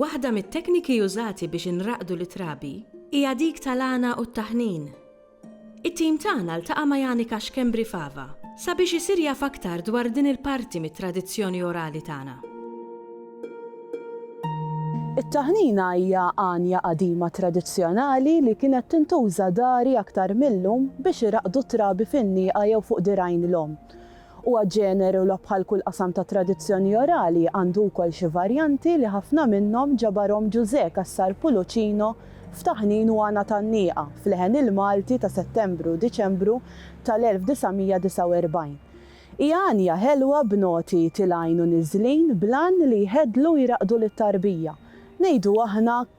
Waħda mit-tekniki użati biex inraqqdu lit-trabi hija dik tal-għana u t-taħnin. It-tim tagħna ltaqa' ma' Janika Schembri Fava sabiex isir jaf aktar dwar din il-parti mit-tradizzjoni orali tagħna. It-taħnina hija għanja qadima tradizzjonali li kienet tintuża dari aktar mil-lum biex iraqqdu t-trabi fin-nieqa jew fuq dirgħajn l-omm. Huwa ġeneru li bħal kull qasam ta' tradizzjoni orali għandu wkoll xi varjanti li ħafna minnhom ġabarhom Ġużè Cassar Pulucino f'Taħnin u Għana tan-Nieqa f'leħen il-Malti ta' Settembru u Diċembru tal-1949. Hija għanja ħelwa b'noti tilgħin u niżlin bl-għan li jħeddlu u jraqqdu lit-tarbija. Ngħidu aħna,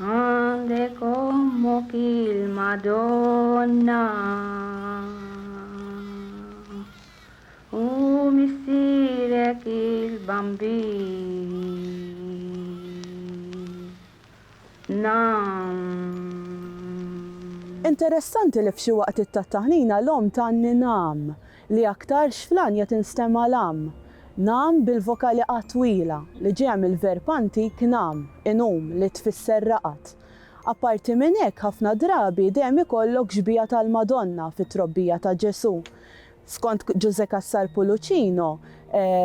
Għandek ommok il-Madonna u missierek il-Bambina. Interessanti li f'xi waqtiet tat-taħnina l-omm tgħanni nam. Li aktarx fl-għanja tinstema' l-am, nam bil-vokali a twila li ġejja mill-verb antik nam, inum, li tfisser raqad. Apparti minn hekk ħafna drabi dejjem ikollok xbieha tal-Madonna fit-trobbija ta' Ġesù. Skont Ġużè Cassar Pulucino,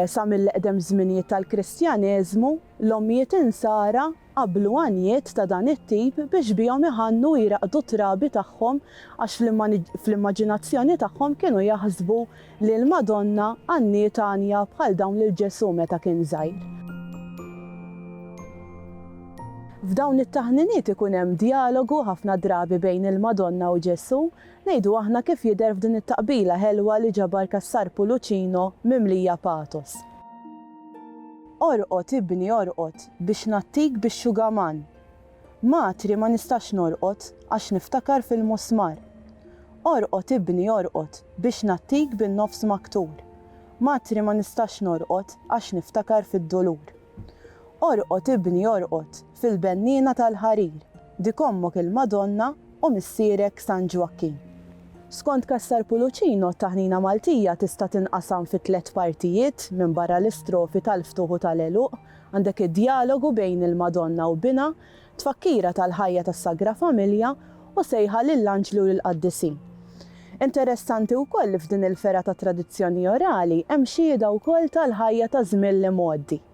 sa mill-eqdem żminijiet tal-Kristjaneżmu, l-ommijiet Insara, Qabblu għanjiet ta' dan it-tip biex bihom iħannu u jraqqdu t-trabi tagħhom għax fl-immaġinazzjoni tagħhom kienu jaħsbu li l-Madonna għanniet għanja bħal dawn lil Ġesù meta kien żgħir. F'dawn it-taħniniet ikun hemm djalogu ħafna drabi bejn il-Madonna u Ġesù, ngħidu aħna kif jidher f'din it-taqbila ħelwa li ġabar Cassar Pulucino mimlija pathos. Orqod, ibni, orqod, biex ngħattik bix-xugaman. Matri, ma nistax norqod, għax niftakar fil-musmar. Orqod, ibni, orqod, biex ngħattik bin-nofs maktur. Matri, ma nistax norqod, għax niftakar fid-dulur. Orqod, ibni, orqod, Fil-benniena tal-ħarir, dik ommok il-Madonna u missierek San Ġwakkin. Skont Cassar Pulucino, t-taħnina Maltija tista' tinqasam fi tliet partijiet, minbarra l-istrofi tal-ftuħ u tal-għeluq, għandek id-djalogu bejn il-Madonna u binha, tfakkira tal-ħajja tas-Sagra Familja u sejħa lill-anġli u lill-qaddisin. Interessanti wkoll li f'din il-fergħa tat-tradizzjoni orali hemm xhieda wkoll tal-ħajja taż-żmien l-imgħoddi.